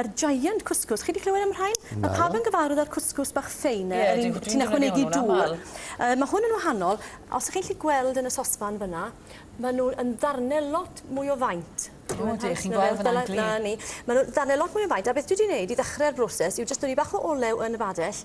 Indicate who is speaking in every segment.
Speaker 1: Yr giant cwscws, chi 'di clywed am y rhain? Na. Ma' pawb yn gyfarwydd â'r cwscws bach ffein 'na. Ie, dwi ti'n ychwanegu dŵr. Yy ma' hwn yn wahanol. Os 'ych chi'n 'llu gweld yn y sosban fyn 'na, ma' nw yn ddarne lot mwy o faint. O ydych, chi'n gweld fyn 'na'n glir. 'Na ni. Ma' nw ddarne lot mwy o faint a beth dwi 'di neud i ddechre'r broses yw jyst dynnu bach o olew yn y badell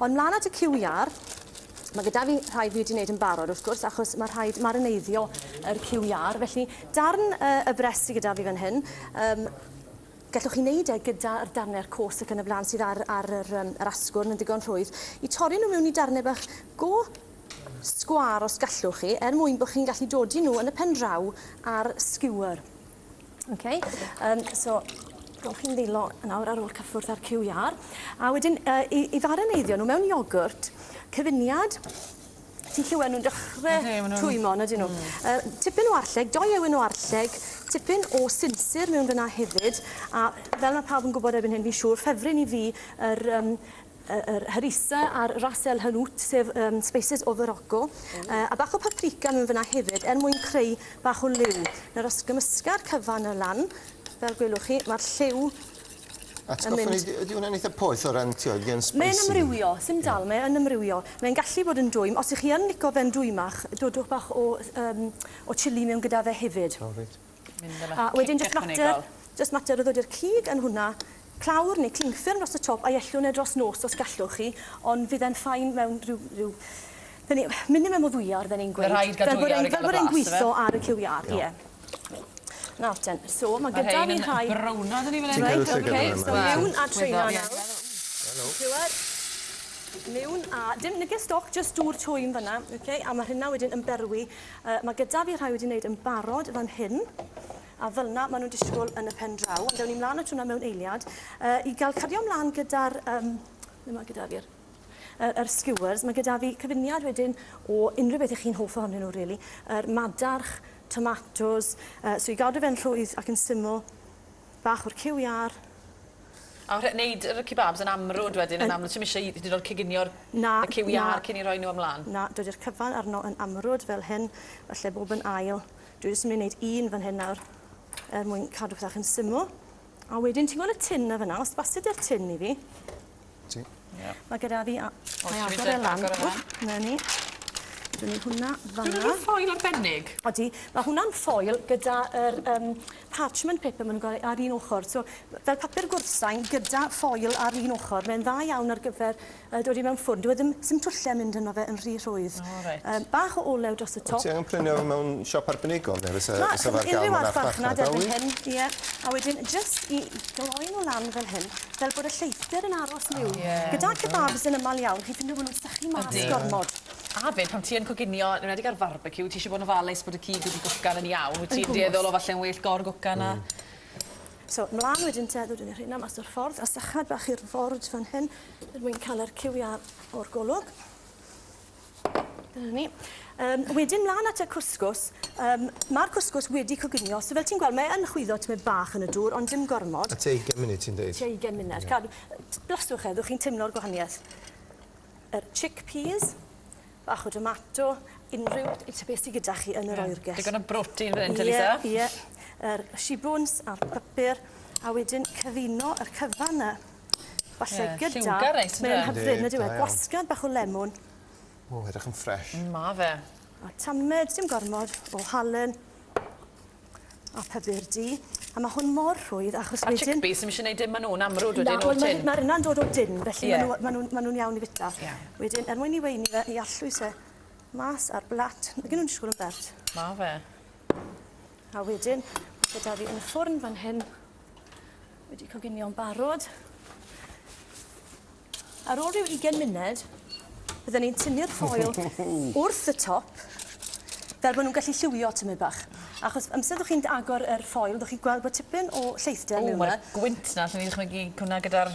Speaker 1: Ond 'mlan at y cyw iâr, ma' gyda fi rhai fi wedi wneud yn barod wrth gwrs achos ma' rhaid marineiddio yr cyw iâr felly darn yy y brest sy gyda fi fan hyn yym gallwch chi wneud e gyda'r darne'r cos ac yn y blaen sydd ar ar yr yym yr asgwrn yn ddigon rhwydd i torri nhw mewn i darnau bach go sgwâr os gallwch chi er mwyn bod chi'n gallu dodi nhw yn y pen draw ar skewer. Okay. Um, so, gawch chi'n ddilo nawr ar ôl cyffwrdd ar QR. A wedyn, uh, i, i ddareneiddio nhw mewn iogwrt, cyfuniad Ti'n lliwen nhw'n dechrau twymo, na dyn nhw. Mm. Uh, tipyn o arlleg, doi ewen o arlleg, tipyn o sinsir mewn fyna hefyd, a fel mae pawb yn gwybod erbyn hyn, fi'n siŵr, ffefryn i fi yr, um, yr harissa a'r ras el hanout sef um, spices o Farocco uh, a bach o paprika mewn fyna hefyd er mwyn creu bach o liw. Nawr os gymysga'r cyfan y lan fel gwelwch chi mae'r lliw Atgoffa ni, ydy hwnna'n eitha poeth o ran tioedd gen spicy? Mae'n ymrywio, sy'n dal, mae yn ymrywio. Mae'n gallu bod yn dwym. Os ych chi yn lico fe'n dwymach, dodwch bach o, um, o chili mewn gyda fe hefyd. Oh, right. Mynd yn A wedyn jyst mater, jyst mater o ddod i'r cig yn hwnna, clawr neu cling ffilm dros y top a'i ellwn e dros nos os gallwch chi, ond fydd e'n fine mewn rhyw rhyw hynny yw minimum o ddwyawr fel ni'n gweud. Bydd rhaid cael dwyawr i gael y blas ife? Fel bod e'n gwitho ar y cyw iâr, ie. Nawr ten, so ma' gyda fi rhai... Ma'r rhein yn browno dwn i fan 'yn. Ti'n cael llygad arno fe? Reit, ok, so miwn a traean nawr. Helo. Clywed? Miwn a dim neges stoc, jyst dŵr twym fan 'na, ok, a ma' rheina wedyn yn berwi Yy, mae gyda fi rhai wedi wneud yn barod fan hyn, a fel'na maen nhw'n disgwyl yn y pen draw. Ond ewn ni mlaen at hwnna mewn eiliad. Yy, i gael cario mlaen gyda'r, yym, ble mae gyda fi'r yr, yr skewers, mae gyda fi cyfuniad wedyn o unrhyw beth 'ych chi'n hoff ohonyn nhw rili. Yr madarch, tomatos, yy, so i gadw fe'n rhwydd ac yn syml, bach o'r cyw iâr, A rhe- neud yr y kebabs yn amrwd wedyn yn amlwg ti'm isie i hyd yn o'd coginio'r Na, y cyw iâr na. cyn 'i roi nw ymlan? Na, dydi'r cyfan arno yn amrwd fel hyn, falle bob yn ail. Dwi jyst yn myn' i neud un fan hyn nawr er mwyn cadw pethe bach yn syml. A wedyn ti'n gwel' y tin 'na fyn 'na? Os baset di'r tin i fi Ti. Ia. Ma' gyda fi a- mae agor e lan. Agor e lan. Ww 'na ni. Dyny hwnna fan 'na. Dyw wnna ddim ffoil arbennig. Odi. Ma' hwnna'n ffoil gyda yr yym parchment paper ma' nw'n ga'l e ar un ochor so m- fel papur gwrthsain gyda ffoil ar un ochor mae'n dda iawn ar gyfer yy dod i mewn ffwrn dyw e ddim sim twlle mynd yno fe yn rhy rhwydd. O reit. Yym bach o olew dros y top. Wt ti angen prynu o mewn siop arbenigol ne' fysa fysa fe ar ga'l mewn archfarchnad oes? Ie a wedyn jyst i gloi n'w lan fel hyn Fel bod y lleithder yn aros liw. Oh, yeah. Gyda kebabs yn ymal iawn, chi'n ffindo bod nhw'n sychu mas gormod. A fyd, pan ti yn coginio, yn enwedig ar farbecue, ti eisiau bod yn ofalus bod y cig wedi gwcan yn iawn. Wyt ti'n dueddol o falle'n well gor gwcan na? So, mlaen wedyn te, ddod yn rhywun am mas o'r ffordd, a sychad bach i'r ford fan hyn, er mwyn cael yr cywiau o'r golwg. Dyna ni. Yym wedyn mlan at y cwsgws. Yym ma'r cwsgws wedi coginio so fel ti'n gweld mae yn chwyddo tymed bach yn y dŵr ond dim gormod. A tua ugen munud ti'n deud? Tua ugen munud. Ie. Cadw t- blastwch e fyddwch chi'n timlo'r gwahanieth. Yr chickpeas, bach o domato, unrhyw t- t- beth sy gyda chi yn yr oergell. Digon o brotein fan 'yn Teresa. Ie ie. Yr shibwns a'r papur a wedyn cyfuno yr cyfan 'na. Falle gyda... Ie, lliwgar neis yndyw e? Mae'n hyfryd yndyw e? Yndi, da iawn. Gwasgad bach o lemwn. O, edrych yn ffresh. Mm, ma' fe. A tamed, dim gormod, o halen a pupur du. A ma' hwn mor rhwydd achos wedyn... A chickpeas, ti'm isie neud dim â nhw'n amrwd wedyn o'r tin? Na, wel ma' ma' rheina'n dod o din, felly... Ie. ...ma' nw ma' nw'n ma' nw'n iawn i fita. Ie. Wedyn, er mwyn i weini fe, i allwys e mas ar blat. Nag 'yn nw'n disgwl yn bert. Ma' fe. A wedyn, ma' 'da fi yn y ffwrn fan hyn Wedi coginio'n barod. Ar ôl rhyw 20 munud, byddwn ni'n tynnu'r ffoil wrth y top, fel bod nhw'n gallu lliwio tymed bach. Achos amser ydych chi'n agor yr ffoil, ydych chi'n gweld bod tipyn o lleithder mewn yna. O, mae'r gwynt na, lle ni'n dychmygu hwnna gyda'r...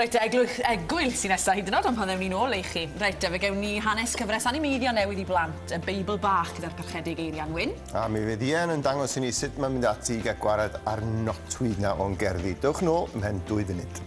Speaker 1: Reit te, eglwys, egwyl sy'n nesa, hyd yn o'd am pan ddewn ni nôl i chi. Reit te, fe gewn ni hanes cyfres animeiddio newydd i blant, y Beibl Bach gyda'r Parchedig Eirian Wyn. A mi fydd Ian yn dangos i ni sut mae mynd ati i gael gwared ar notwyd na o'n gerddi. Dewch nôl ymhen dwy funud.